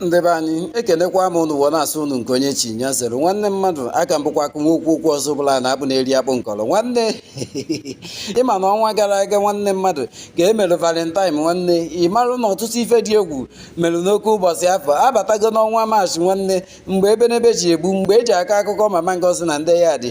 ndị be anyị ekenekwa m ụnụ wee na-asị ụnụ nke onye chi ya zere nwanne mmadụ aka m bụkwa akụ nwa okwu okwu ọzọ bụla na-abụ na-eri akpụ nkọrọ nwanne ị ma na ọnwa gara aga nwanne mmadụ ka e mere valentine nwanne ị marụ na ọtụtụ ife dị egwu mere n'oke ụbọchị afụ a batago n'ọnwa maachị nwanne mgbe ebenebe ji egbu mgbe e ji akọ akụkọ mama ngozi na ndị yard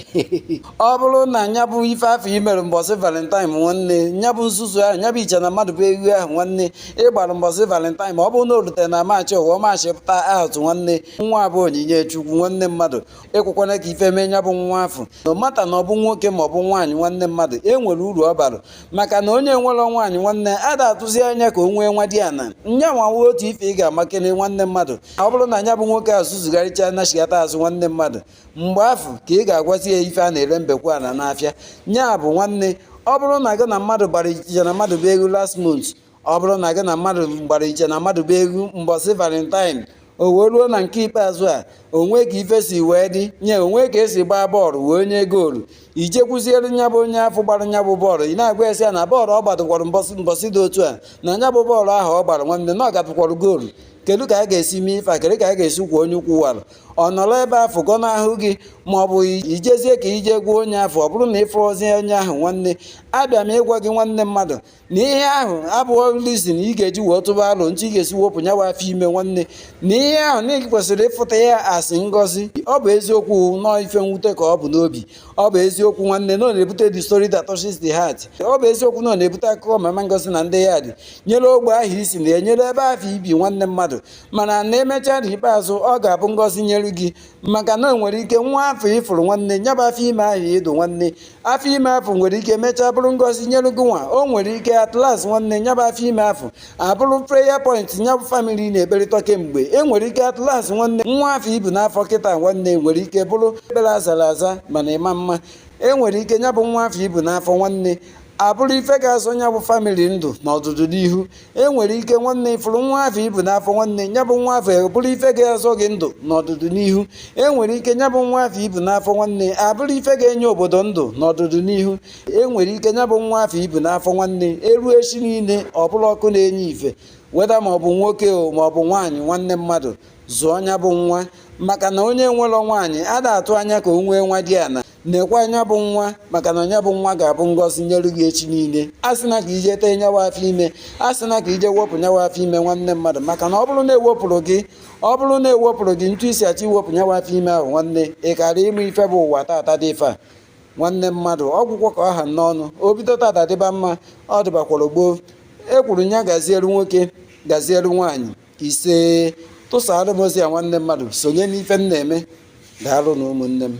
ọ bụrụ na nya bụ ife afụ i mere mbọsị valentine nwanne nya bụ nzuzu ahụ nya bụ iche na mmadụ bụ ewu ahụ nwanne ị gbara mbọsị valentine ma ọ bụrụ na o rutere na maachị ụwa maachị pụta out nwanne nwa bụ onyinye chukwu nwanne mmadụ ekwekwana ka ife mee nya bụ nwa afụ no matter na ọ bụ nwoke ma ọ bụ nwaanyị nwanne mmadụ e nwere uru ọ bara maka na onye nwere nwaanyị nwanne a da-atụzi anya ka o nwee nwadiana nya nwa nwa otu ife ị ga-amakene nwanne mmadụ ọ bụrụ na nya bụ nwoke azụ zugharịcha na azụ nwanne mmadụ mgbe afụ ka ị ga-agwazi ya ife a na-ere mbekwa ala n'afịa nya bụ nwanne ọ bụrụ na gị na mmadụ gbara iche na mmadụ bụ ewu last month ọ bụrụ na gị na mmadụ gbara iche na mmadụ bụ ewu mbọsị valentine o wee ruo na nke ikpeazụ a o nwee ka ife si wee dị nye o nwee ka e si gbaa bọọlụ wee nye goolu i jekwuziere nya bụ onye afụ gbara nya bụ bọọlụ ị na-agwazi ya na bọọlụ ọ gbadụkwara mbọsị dị otu a na nya bụ bọọlụ ahụ ọ gbara nwanne na ọ goolu kedu ka a ga-esi mee ife a kedu ka a ga-esi kwọọ onye ukwu wara ọ nọrọ ebe afụ gọnahụ gị ma ọ bụ i jezie ka i je gwa onye afụ ọ bụrụ na ị fụrọzie onye ahụ nwanne abịa m ịgwa gị nwanne mmadụ na ihe ahụ abụrọ reason ị ga-eji wee tụba alo etu ị ga-esi wepụ nya bụ afọ ime nwanne na ihe ahụ na ị kwesịrị ịfụta ya as ngọzi ọ bụ eziokwu na ọ ife mwute ka ọ bụ n'obi ọ bụ eziokwu nwanne na ọ na-ebute the story that touches the heart ọ bụ eziokwu na ọ na-ebute akụkọ mama ngozi na ndị yard nyere ogbe ahụ i si na ya nyere ebe ahụ i bi nwanne mmadụ mana na e mechaa n'ikpeazụ ọ ga-abụ ngọzi nyere gị maka na o nwere ike nwa afụ ị fụrụ nwanne ya bụ afọ ime ahụ ị dụ nwanne afọ ime afụ nwere ike mechaa bụrụ ngọzi nyere gị nwa o nwere ike at last nwanne ya bụ afọ ime afụ abụrụ prayer point ya bụ famili na-ekperịta kemgbe e nwere ike at last nwanne nwa afụ i bu n'afọ kịta nwanne nwere ike bụrụ ekpere azara aza mana ị ma-ama e nwere ike ya bụ nwa afụ i bu n'afọ nwanne abụrụ ife ga-azọ nya bụ famili ndụ na ọdụdụ n'ihu e nwere ike nwanne ị fụrụ nwa afụ i bu n'afọ nwanne nya bụ nwa afụ bụrụ ife ga-azọ gị ndụ na ọdụdụ n'ihu e nwere ike nya bụ nwa afụ i bu n'afọ nwanne abụrụ ife ga-enye obodo ndụ na ọdụdụ n'ihu e nwere ike nya bụ nwa afụ i bu n'afọ nwanne e ruo echi niile ọ bụrụ ọkụ na-enye ife whether ma ọ bụ nwoke o ma ọ bụ nwaanyị nwanne mmadụ zụọ nya bụ nwa maka na onye nwere nwaanyị a da-atụ anya ka o nwee nwadiana nekwaa nya bụ nwa maka na nya bụ nwa ga-abụ ngọzi nyere gị echi niile asịna ka i je tee nya bụ afọ ime asịna ka i je wepụ nya bụ afọ ime nwanne mmadụ maka na ọ bụrụ na e wepụrụ gị ọ bụrụ na e wepụrụ gị etu i si achọ iwepụ nya bụ afọ ime ahụ nwanne ị karọ ịma ife bụ ụwa tata dị ife a nwanne mmadụ ọ gwụgo ka ọ ha m n'ọnụ o bido tata dịba mma ọ dịbakwara gboo e kwuru nya gaziere nwoke gaziere nwaanyị ise tụsara m ozi a nwanne mmadụ sonye n'ife m na-eme daalụnụ ụmụnne m